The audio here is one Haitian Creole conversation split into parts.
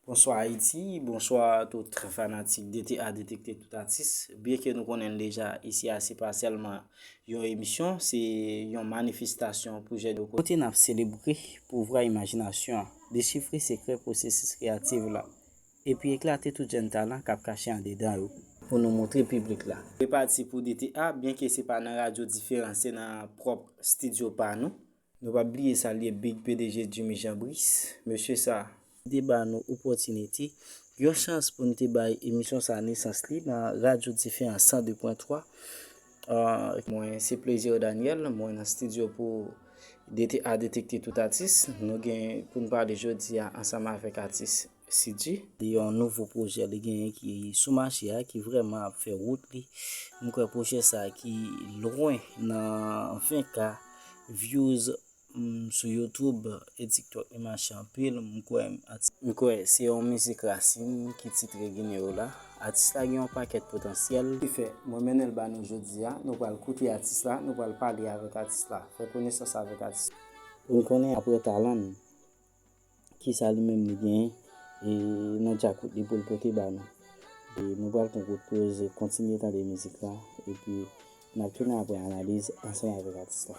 Bonswa Ayiti, bonswa tout fanatik DTA Detekte Tout Atis. Byen ke nou konnen deja, isi a se pa sèlman yon emisyon, se yon manifestasyon pou jèn yo. Kote n ap selebre pouvwa imajinasyon an, dechifre sekrè pwosesis kreyativ la, epi eklate tout jèn talan k ap kache andedan yo, pou nou montre piblik la. Repati pou DTA, byen ke se pa nan radyo diferan, se nan pwòp stidyo pa nou. Nou pap bliye salye big pdg Jimmy Jean Brice, mesye sa. Li te ba nou opòtinite, yon chans pou n te bay emisyon sa nesans li nan Radyo Dife an 102 pwen 3. Mwen se Plaisir Daniel, mwen nan stidyo pou DTA Detekte Tout Atis. Nou gen pou n pale jodi a ansanm avèk atis. Siddhi. Li yon nouvo pwojè li genyen ki sou mache a ki vrèman ap fè wout li. M kwè pwojè sa ki lwen nan 20 k views sou youtube e tiktok li mache anpil. M kwè atis. M kwè se yon mizik rasin ki titre Gineyo la. Atis la gen yon pakèt potansyèl. Ki fè mwen mennen l ba nou jodi a. Nou pral koute atis la, nou pral pale avèk atis la. Fè konesans avèk atis la. Pou n konnen aprè talan n. ki sa li menm li genyen e nan djakout li pou l pote ba nou. E nou pral pran kout poze, kontinye tande mizik la epi n ap tounen apre analiz ansanm avèk atis la.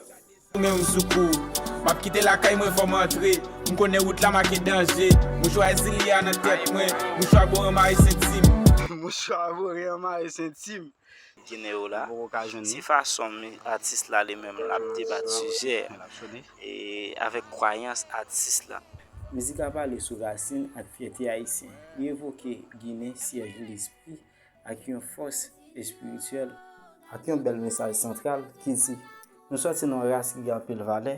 Goumen ou sou kou ou. M ap kite lakay mwen fò m antre. M konnen wout la make danje. Mouchwa zili a nan tèt mwen. Mouchwa boran mare senti m. Mouchwa boran mare senti m. Ginen yo la, se fason atis la li menm l ap debat sijè e avèk kwayans atis la. Mizik la pale sou rasin ak fyète ayisyen. Li evoke Ginen, syèj lespri ak yon fòs espirityèl. Ak yon bèl mesaj santral ki di, Nou sòti nan yon ras ki gen anpil valè,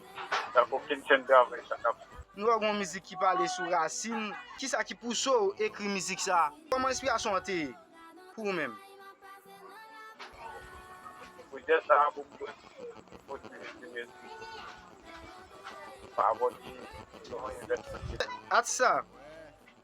Sak okenn chen travay sa kap. Nou wè gon mizik ki pale sou rasin. Kisa ki pouse w ekri mizik sa? Kòman enspirasyon an te ye pou ou menm? Pwojè sa pou m jwenn opòtinite men tou pa abòne non envèsman. Atis la.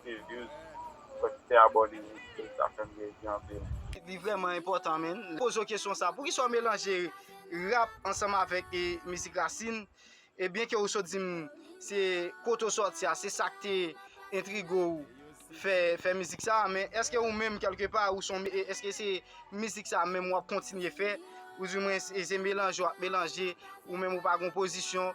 Stelius mwen kite abone wi view sa fem plezi anpil. Li vreman enpotan menn. Poze w kesyon sa, poukisa w melanje rap ansanm avek mizik rasin? E byen ke ou sot di m se kote w soti a, se sak te entrige w fè mizik sa, men eske ou menm kelke pa ou son eske se mizik sa menm wap kontinye fè? Ou di mwen se melanje wap melanje ou menm ou pa gen w pozisyon?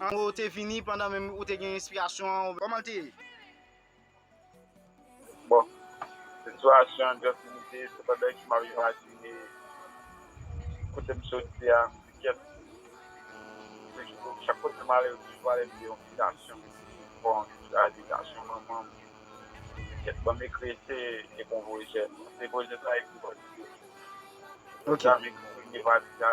Anmwee ou te vini pandan menm ou te gen enspirasyon an oubyen kòman l te ye? Bon, sitiyasyon an just limite se pandan ke m ap imajine kote m soti a, m di kèt chak kote m ale yo toujou pale m de yon bitasyon ki pi pwofon anke sa a, bitasyon manman m. M di kèt ban m ekri ese e bon pwojè. Se pwojè sa a ekri pati 2. Lè sa m ekri premye pati a.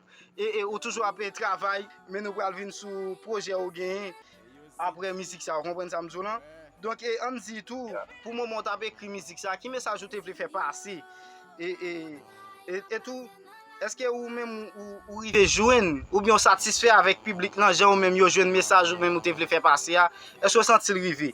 E e ou toujou ap travay men nou pral vin sou pwojè ou genyen apre mizik sa ou konprann sa m di w lan donk e an m di tou pou moman ou t ap ekri mizik sa ki mesaj ou te vle fè pase e e e tou èske ou menm ou rive jwenn oubyen ou satisfè avèk piblik lan jan ou menm yo jwenn mesaj ou menm ou te vle fè pase a èske ou santi l rive.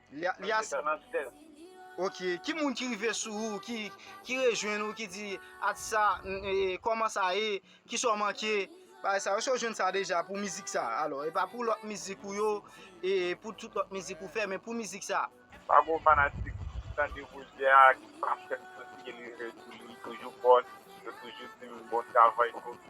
Li a sa nan sèl. Ok ki moun ki rive sou ou ki rejwenn ou ki di atis sa kòman sa ye ki sa w manke bagay sa yo èske w jwenn sa deja pou mizik sa alò e pa pou lòt mizik ou yo e pou tout lòt mizik ou fè men pou mizik sa. Pa gwo fanatik ki tande pwojè a ki pa fèm santi ke li rete sou li toujou bòs yo toujou di m bon travay ok.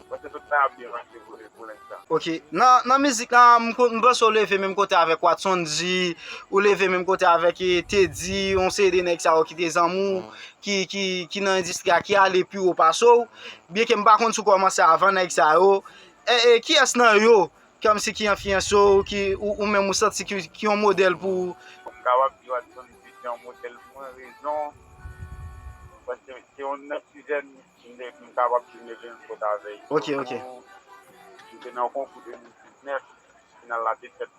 Paske tout sa ap byen mache vre pou lenstan. Ok nan mizik la m panse ou leve menm kote avèk watson D ou leve menm kote avèk teddy yon seri de nèg sa yo ki te zanmi w ki nan endistri a ki ale pi wo pase w byen ke m pa konn si w kòmanse avan nèg sa yo kiyès nan yo kòmsi ki enfliyanse w ki ou menm ou santi ki yon modèl pou ou m kapab di watson D se yon modèl pou mwen rezon paske se yon nan ki jèn Kinbèk m kapab di mwen gen fot avè yo. Ok ok. M te nan konkou 2019, final la te fèt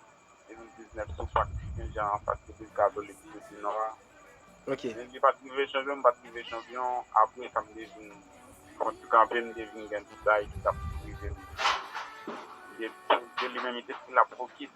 2019 sou pak Sen Jan an fas Legliz Katolik Soti Nò a. Ok. Men li pat rive chanpyon, m pat rive chanpyon, apre sa m te vin fè yon ti kanpe, m te vin gen dout bagay ki tap rive m. Li te li menm li te fin lap fokis.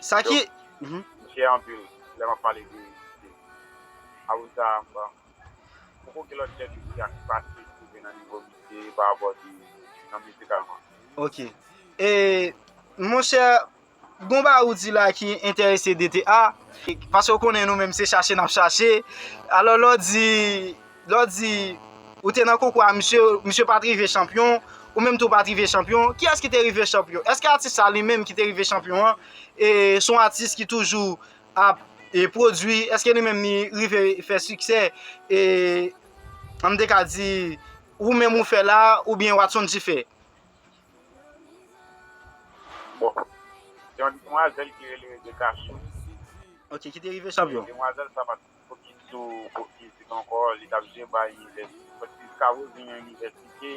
Sa ki. M fyè anpil lè m ap pale de Awousa a. Bon, poko gen lòt tèt ekri a ki pase ki rive nan nivo misye parapò de nan mizikalman. Ok. E, monchè, gon bagay ou di la ki enterese DTA. Pase ou konnen nou menm se chache n ap chache. Alò lè w di Lè w di ou te nan konkou a misye, misye pa t rive chanpyon, ou menm tou ou pa t rive chanpyon, kiyès ki te rive chanpyon? Èske atis sa li menm ki te rive chanpyon an se yon atis ki toujou ap pwodui, èske li menm li rive fè siksè e an m te ka di ou menm ou fè la oubyen Watson G fè? Bon, se yon demwazèl ki rele Rejeka Soul. Ok, ki te rive chanpyon. Demwazèl sa pa t Fokis sou Pwòf Fizik ankò, li t ap jwe bay Inivèsite. Pwòf Fizik ap revini nan Inivèsite.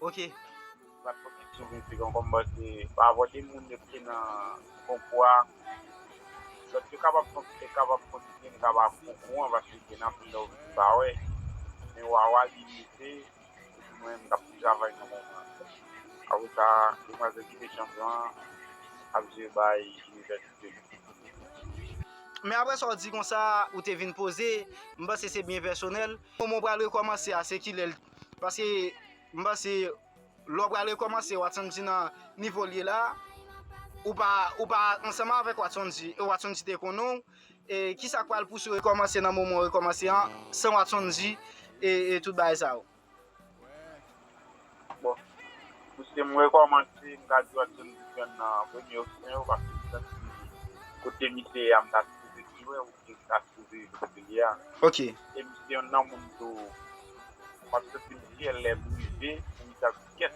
Ok. M pa t fokis sou Fizik ankò, m panse pa rapò de moun yo te nan konkou a, lòt yo kapab kontinye, m kapab okouran paske gen anpil lè ou vin pa wè. Men Wawa li rive. Pou mwen m tap travay nan moman an. Avoka demwazèl ki te chanpyon an ap jwe bay inivèsite li. Men aprè sa w di konsa a, ou te vin poze, m panse se byen pèsonèl. Moman w pral rekòmanse a se kilè l? Paske m panse lè w pral rekòmanse Watson G nan nivo l ye la a, ou pa ansanm avèk Watson G. Watson G te konnen w. E kisa k pral pouse w rekòmanse nan moman w rekòmanse an, san w ap sonji e tout bagay sa yo? Bon, pouse m rekòmanse, m ka di Watson te jwenn nan premye opsyon yo, paske m santi kote misye ye a m ta sipoze jwe oubyen m ta sipoze rete kote li ye a. Ok. E m se yonn nan moun tou, m ap santi m fyè lè m rive pou m di sa m di kèt.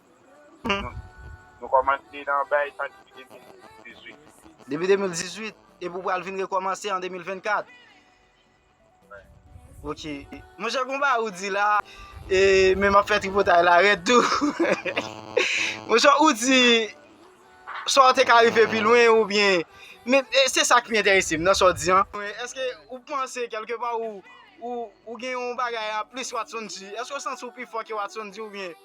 Nou kòmanse nan bay sa depi 2018. Depi 2018? Epi ou pral vin rekòmanse an 2024? Ok. Monchè gon bagay ou di la, e men m ap fè tripotay la rèd tou. Monchè ou di, sa w te ka rive pi lwen ou byen, men se sa ki enterese m nan sa w di an. Eske ou panse kèlke pa ou gen yon bagay anplis Watson G? Eske ou santi ou pi fò ke Watson G ou byen?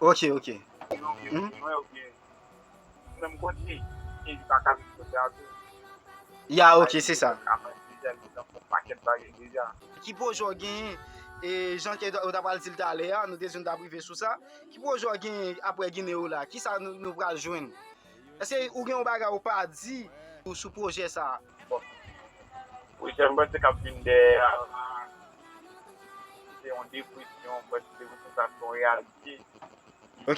Ok ok. Ya ok se sa. Ki pwojè w genyen e jan ke ou ta pral di l talè a, nou te di nou ta prive sou sa, ki pwojè w genyen aprè gine w la? Kisa nou pral jwenn? Èske ou gen yon bagay ou pa di sou pwojè sa? Pwochè m panse k ap vin dèyè a la, se yon depresyon m panse se pou sa son reyalite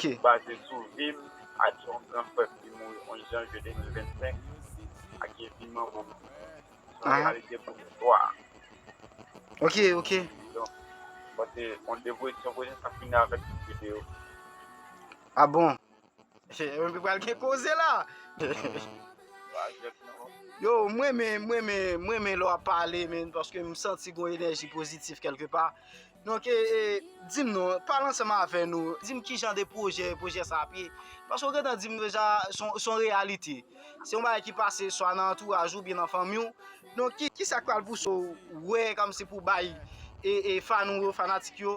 ki baze sou vi m ak yon gran frè m ki mouri 11 janvye 2025 ak epi manman m son reyalite pou nou 3 ok ok donk m panse yon depresyon pwochè sa fini avèk tout videyo a bon. Pral gen koze la. Yo mwen men mwen men mwen men lwa pale men paske m santi gwen enerji pozitif kelke pa. Donk e di m non pale ansanm avè nou di m ki jan de pwojè pwojè sa ap ye. Paske ou gentan di m deja son reyalite. Se yon bagay ki pase swa nan antouraj ou byen nan fanmi ou. Donk ki sa k pral pouse ou wè kòm se pou bay e fan ou yo fanatik yo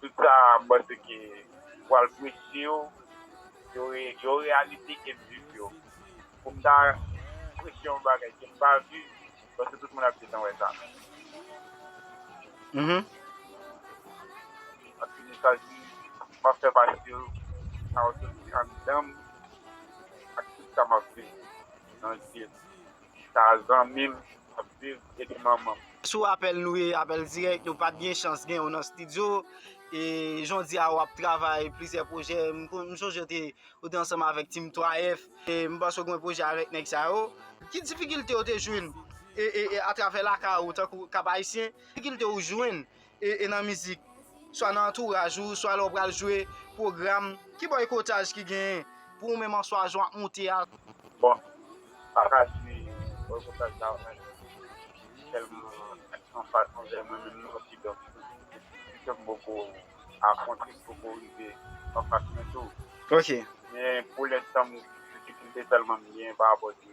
Tout sa m panse ke m pral preche yo, yo reyalite ke m viv yo. Pou m ta preche yon bagay ke m pa viv, m panse tout moun ap gentan wè sa. Anpil mesaj m ap fè pase yo, sa yo soti anndan m ak tout sa m ap viv nan Jezi. Sa zanmim ap viv epi manmanm. Sou apèl nou ye apèl dirèk nou pat gen chans genw nan studio e jodia wap travay plizyè pwojè m sonje ou te ou te ansanm avèk team 3 F e m panse ou gen pwojè avèk nèg sa yo ki difikilte ou te jwenn e atravè lakay ou tankou Cap Haïtien ki difikilte ou jwenn e nan mizik, swa nan antouraj ou, swa lè w pral jwe pwogram, ki bòykotaj ki genyen pou ou menm an swa jan w ap moute a? Bon, m pa ka di bòykotaj la anyen ki tèlman anfas anvè mwen menm non, kidonk, pito m poko afwonte, m poko rive anfas mwen tou. Men pou lenstan m difikilte sèlman m genyen parapò de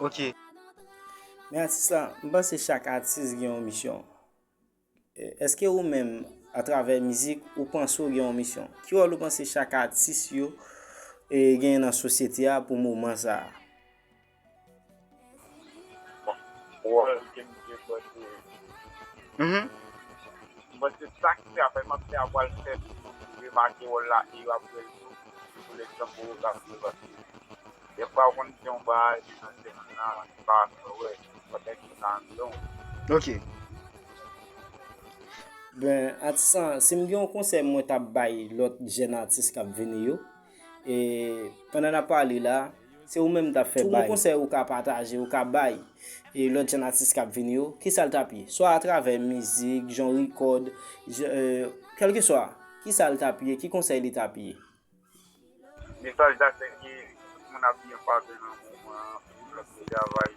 Ok. Men atis la, m panse chak atis gen yon misyon. Eske ou menm, a travè mizik, ou panse ou gen yon misyon? Ki wòl ou panse chak atis yo genyen nan sosyete a pou moman sa a? Atis lan, si m gen yon konsèy mwen ta bay lòt jèn atis k ap vini yo, E pandan nap pale la, se ou menm m tap fè bay. Ki konsèy ou ka pataje, ou ka bay e lòt jenn atis kap vini yo, ki sa l tap ye? Swa atravè mizik, jan w rikòd, kèlkeswa, ki sa l tap ye, ki konsèy li tap ye? Mesaj la se ke tout moun ap byen pase nan moman an, tout moun ap byen travay.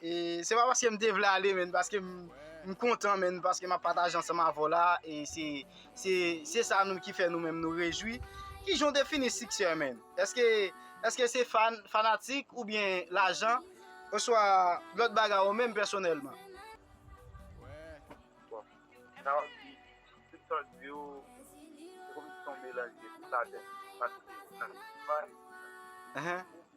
E se pa paske m te vle ale men paske m kontan men paske m ap pataje ansanm avè w la e se sa nou ki fè nou menm nou rejwi. Kijan w defini siksè men? Eske se fan, fanatik oubyen lajan oswa lòt bagay ou menm pèsonèlman? Bon, sa w di, tout sa w di yo se kòmsi se yon melanj de tout atè paske nan tout faz.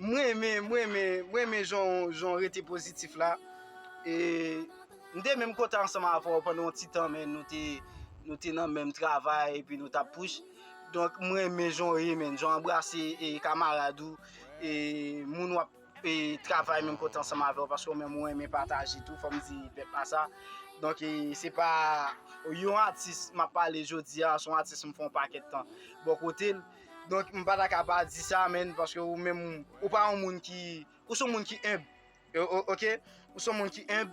M renmen, m renmen, m renmen jan w rete pozitif la. E m te menm kontan ansanm avè w pandan yon ti tan men nou te nou te nan menm travay epi nou t ap push. Donk m renmen jan w ye menn, jan w anbrase e kamarad ou e moun w ap e travay menm kote ansanm avè w paske ou menm ou renmen pataje tou fò m di pèp la sa. Donk e se pa yon atis m ap pale jodi a, se yon atis m fè yon pakèt tan bò kote l. Donk m pa ta ka pa di sa menn paske ou menm ou pa yon moun ki ou son moun ki enb ok ou son moun ki enb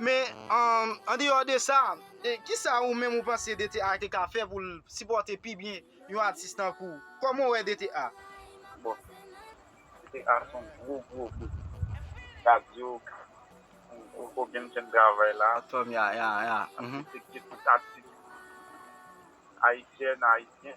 men an deyò de sa ki sa ou menm ou panse DTA te ka fè pou l sipòte pi byen yon atis tankou w kòman w wè DTA? Bon DTA se yon gwo gwo bout radyo ou ko byen fè travay la ya ya ya m felisite tout atis ayisyèn ayisyen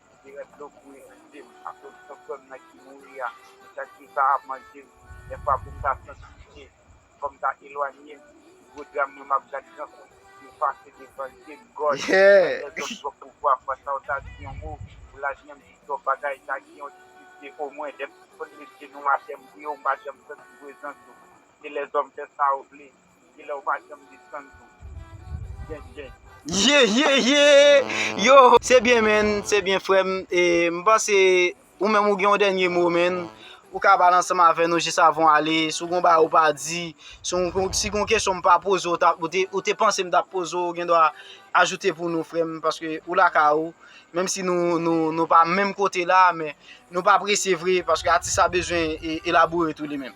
Epi rès dlo kouri nan je m akoz san frè m nan ki mouri a. Mwen santi sa ap manje m. Dèfwa pou m ta santi pye, fò m ta elwanye m. Gwo dram mwen m ap gad gran kout yo pase devan je m. God, mwen dezòd twòp pou vwa fwa sa w ta di yon mo pou lavni m di twòp bagay ta gen yon ti pifye omwen. Dèm sispann met je nou atè m priye w m pa janm santi prezans ou. Se lèzòm fè sa yo vle. Kilè ou pa janm desann tou. Gen gen. Yeyeyeyy yohh se byen menn se byen frèm e m panse ou menm ou gen yon dènye mo menn ou ka pale ansanm avè nou jis avan w ale si w gen yon bagay ou pa di si w gen yon kesyon m pa poze w ou te panse m ta poze w ou gen dwa ajoute pou nou frèm paske ou lakay ou menm si nou pa menm kote la men nou pa prese vre paske atis la bezwen elaboure tou li menm.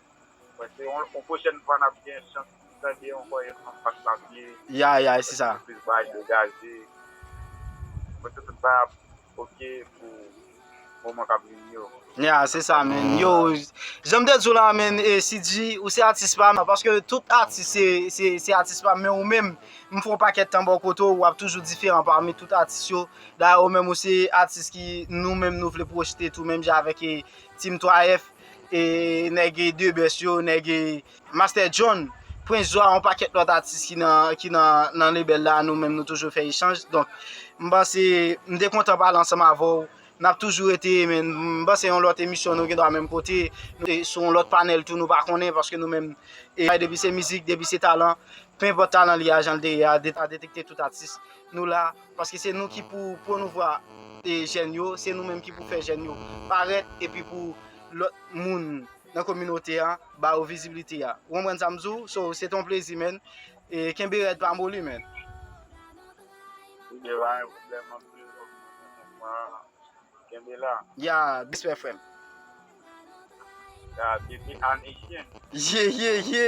Mwen se yon yon pwochèn fwa nap gen chans pou tande yon kòye fanm pat mabye. Ya ya se sa. Mwen plis bay degaje. Mwen se tout bay ap ok pou moman kap vini yo. Ya se sa menn. Yo janm te diw la menn e sidji ou se atis pam paske tout atis se atis pam men ou menm m fon pakèt tan bò kote ou wap toujou diferan pami tout atis yo dayè ou menm ou se atis ki nou menm nou vle pwojte tou menm jan avèk team 3 F e nèg de best yo nèg master John prince zwa yon pakèt lòt atis ki nan ki nan nan lebèl la nou menm nou toujou fè echanj donk m panse m te kontan pale ansanm avèw nap toujou rete men m panse yon lòt emisyon nou gendwa menm kote sou yon lòt panèl tou nou pa konnen paske nou menm depi se mizik depi se talan penpòt talan li a janl te ye a detekte tout atis nou la. Paske se nou ki pou pwomouvwa jèn yo, se nou menm ki pou fè jèn yo parèt epi pou lòt moun nan kominote an ba yo vizibilite a. Ou konprann sa m di w? So, se te yon plezi menn. E kenbe rèd pa moli menn. Kenbe la, yon pwoblèm anpil pou mouvman an. Kenbe la. Ya, respè frè m. Ya, depi ane chen. Ye, ye, ye!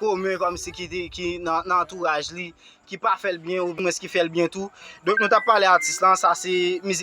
komen kòmsi ki nan antouraj li ki pa fèl byen ou mwens ki fèl byen tou donk nou tap pale atis lan sa se mizik.